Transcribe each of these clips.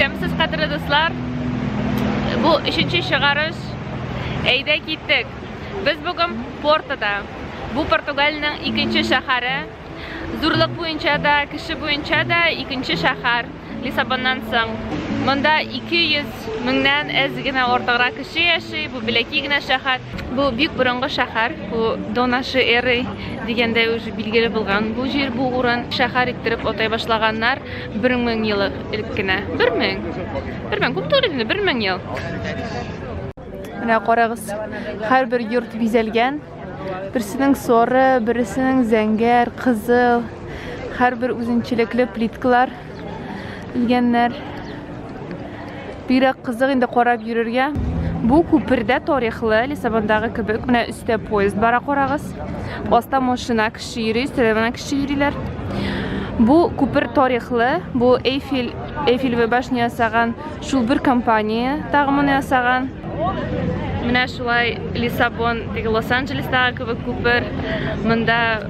Сәмсез кадрлы дуслар, бу өченче чыгарыш. Әйдә киттек. Без бүген Портода. Бу Португалиянең икенче шәһәре. Зурлык буенча да, кеше буенча да икенче шәһәр Лиссабоннан соң. Монда 200 меңнән әз генә артыграк кеше яши. Бу беләки генә шәһәр. Бу бик борынгы шәһәр. Бу Донаши эры дигәндә уже билгеле булган. Бу җир, бу урын шәһәр иттереп атай башлаганнар. Бер мең ел элек кенә. Бер мең. Бер мең. Күп түгел инде, бер мең ел. Менә карагыз, һәрбер йорт бизәлгән. Берсенең соры, берсенең зәңгәр, кызыл. Һәрбер үзенчәлекле плиткалар, үлгәннәр. Бигрәк кызык инде карап йөрергә. Бу күпердә тарихлы, Лиссабондагы кебек, менә өстә поезд бара карагыз. Аста машина кеше йөри, өстә менә кеше йөриләр. Бу күпер тарихлы, бу Эйфель, Эйфелевая башня ясаган шул бер компания тагымын ясаган. Менә шулай Лиссабон, теге Лос-Анджелестагы кебек күпер. Монда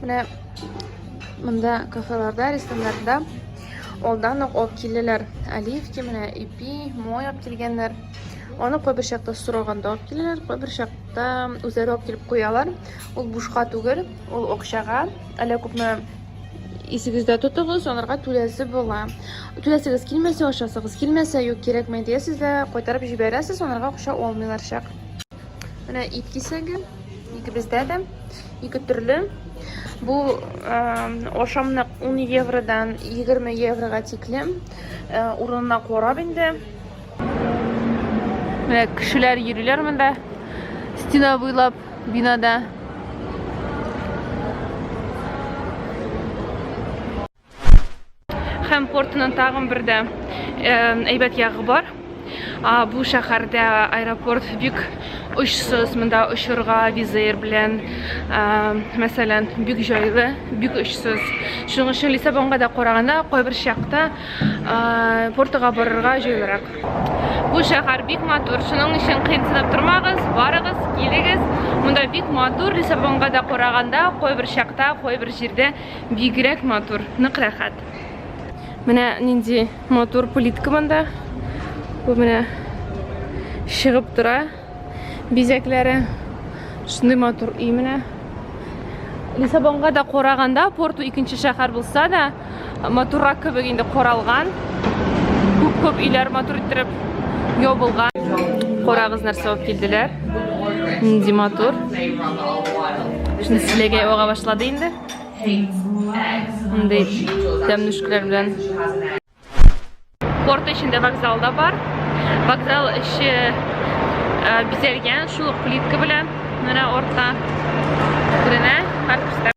Менә монда кафеларда, рестораннарда алдан ук алып киләләр. Оливки менә ипи, мой алып килгәннәр. Аны кайбер чакта сораганда алып киләләр, кайбер чакта үзләре алып килеп куялар. Ул бушка түгел, ул акчага. Әллә күпме исегездә тотыгыз, аларга түләсе була. Түләсегез килмәсә, ашасыгыз килмәсә, юк кирәкмәй диясез дә, кайтарып җибәрәсез, аларга акча алмыйлар чак. Менә ит кисәге, икебездә дә, ике төрле. Бу э, ашамлык 10 евродан 20 еврога тиклем. Э, урынына карап инде. Менә кешеләр йөриләр монда. Стена буйлап бинада. Һәм портының тагын бер дә әйбәт ягы бар. Бу шәһәрдә аэропорт бик очсыз, монда очырга визер белән, мәсәлән, бик җайлы, бик очсыз. Шуның өчен Лиссабонга да караганда кайбер чакта портыга барырга җайлырак. Бу шәһәр бик матур, шуның өчен кыенсынып тормагыз, барыгыз, килегез. Монда бик матур, Лиссабонга да караганда кайбер чакта, кайбер җирдә Бигрәк матур, нык рәхәт. Менә нинди матур плитка монда. Бу менә чыгып тора бизәкләре. Шундый матур өй менә. Лиссабонга да караганда, Порту икенче шәһәр булса да, матуррак кебек инде каралган. Күп-күп өйләр матур иттереп ябылган. Карагыз нәрсә алып килделәр. Нинди матур. Шуны силәгәй ага башлады инде. Мондый тәмнүшкәләр белән. Порт эчендә вокзал да бар. Вокзал эче э, бизәлгән шул ук плитка белән. Менә орта күренә һәрбер.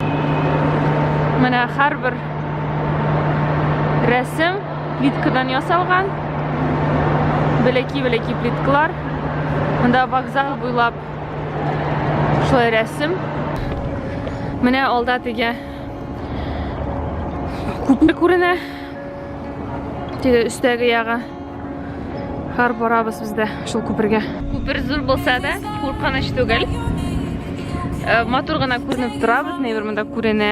Менә һәрбер рәсем Плиткадан ясалган. Бәләки-бәләки плиткалар. Монда вокзал буйлап шулай рәсем. Менә алда теге күпер күренә. Теге өстәге ягы. Хар барабыз без дә шул күпергә. Күпер зур булса да, куркыныч түгел. Э, матур гына күренеп тора, бөтенләй бер монда күренә.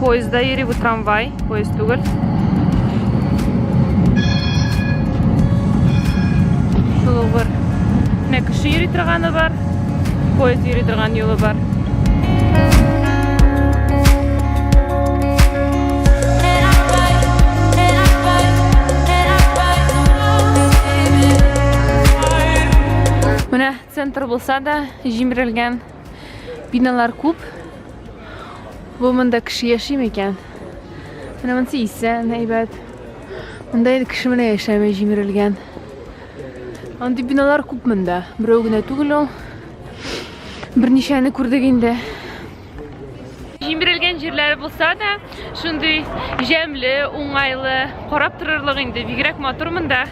Поезда йөри бу трамвай, поезд түгел. Шул ук бер. Менә кеше йөри торганы бар, поезд йөри торган юлы бар. Менә центр булса да, җимерелгән. Биналар күп. Бу монда кеше яши микән? Менә монсы исән, әйбәт. Монда инде кеше менә яшәми, җимерелгән. Андый биналар күп монда. Берәү генә түгел ул. Берничәне күрдек инде. Җимерелгән җирләре булса да, шундый җәмле, уңайлы, карап торырлык инде, бигрәк матур монда.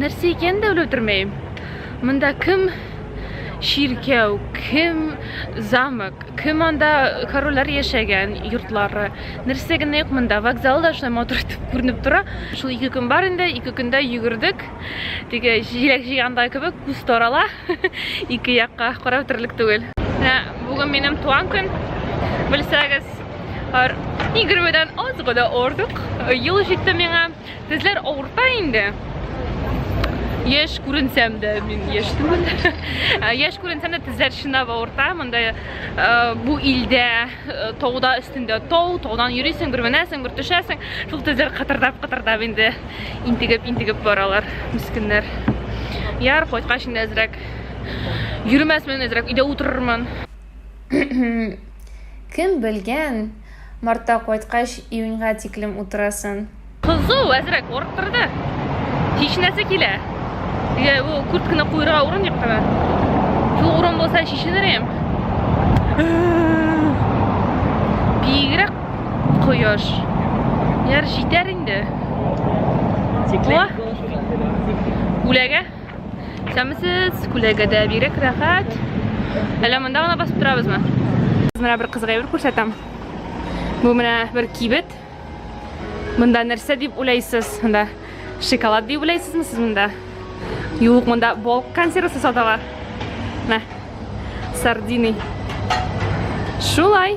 нәрсә икән дә белеп тормыйм. Монда кем чиркәү, кем замок, Кем анда корольләр яшәгән йортлары, нәрсә генә юк монда. Вокзал да шулай матур итеп күренеп тора. Шул ике көн бар инде, ике көндә йөгердек. Теге җиләк җыйганда кебек күз тарала ике якка карап терлек түгел. Менә бүген минем туган көн. Белсәгез, һәр егермедән аз гына артык ел җитте миңа. Тезләр авырта инде. Яш күренсәм дә, мин яш түгел. Яш күренсәм дә тезләр чынлап авырта. Монда э, бу илдә э, тауда өстендә тау, таудан йөрисең, бер менәсең, бер төшәсең. Шул тезләр кытырдап, кытырдап инде интегеп, интегеп баралар, мискеннәр. Яр кайткач инде әзрәк йөрмәсмен, әзрәк өйдә утырырмын. Кем белгән? Мартта кайткач, июньга тиклем утырасын. Кызу, әзрәк орып торды. Чишенәсе килә. Дигә, бу куртканы куйырга урын юк кына. Шул урын булса чишенер идем. Бигрәк кояш. Яр җитәр инде. Тикле. Үләгә. Сәмсез, күләгәдә бигрәк рәхәт. Әллә монда гына басып торабызмы? Менә бер кызга әйбер күрсәтәм. Бу менә бер кибет. Монда нәрсә дип уйлайсыз? Монда шоколад дип уйлайсызмы сез монда? Юк, монда бол консервасы саталар. Мә. Сардины. Шулай.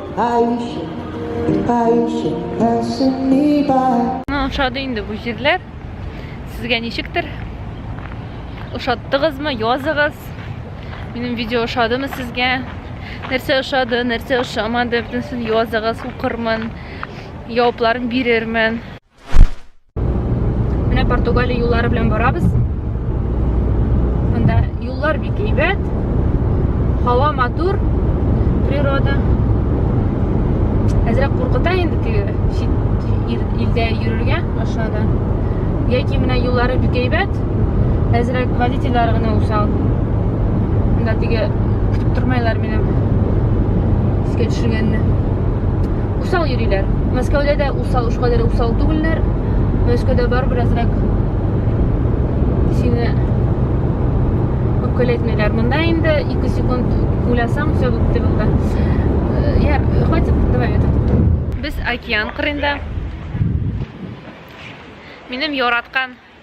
Миңа ошады инде бу җирләр. Сезгә ничектер? Ошаттыгызмы? Языгыз. Минем видео ошадымы сезгә? Нәрсә ошады, нәрсә ошамады, бөтенсен языгыз, укырмын. Җавапларын бирермен. Менә Португалия юллары белән барабыз. Монда юллар бик әйбәт. Һава матур, природа. Әзрәк куркыта инде теге чит илдә йөрергә машинада. Яки менә юллары бик әйбәт. Әзрәк водительләр генә усал. Монда теге көтеп тормайлар минем. Искә төшергәнне. Усал йөриләр. Мәскәүдә дә Усал, уж кадәр усал түгелләр. Мәскәүдә бар беразрак сине үпкәләтмиләр. Монда инде 2 секунд уйласаң, все бетте булды. Э, я, хватит, давай это. Без океан кырында. Минем яраткан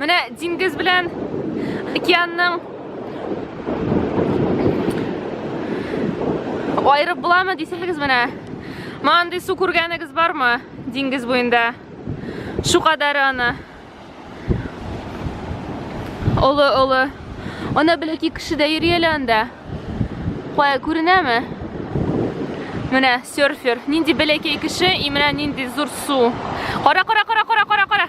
Менә диңгез белән океанның айырып буламы дисәгез менә. Маңдый су күргәнегез бармы? Диңгез буенда. Шу кадәре аны. Олы, олы. Ана беләки кеше дә йөри әле анда. Кая күренәме? Менә серфер. Нинди беләки кеше, и менә нинди зур су. Кара, кара, кара, кара, кара, кара.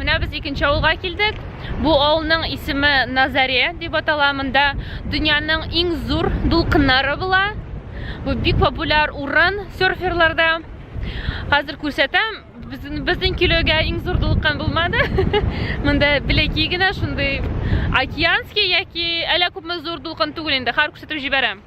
Менә без икенче авылга килдек. Бу авылның исеме Назаре дип атала. Монда дөньяның иң зур дулкыннары була. Бу бик популяр урын серферларда. Хәзер күрсәтәм, безнең килүгә иң зур дулкын булмады. Монда беләки генә шундый океанский яки әллә күпме зур дулкын түгел инде. Хәзер күрсәтеп җибәрәм.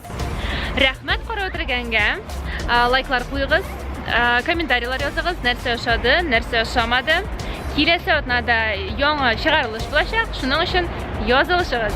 Рәхмәт карап үтергәнгә. Лайклар куегыз, комментарийлар языгыз, нәрсә ошады, нәрсә ошамады. Киләсе атнада яңа чыгарылыш булачак, шуның өчен язылышыгыз.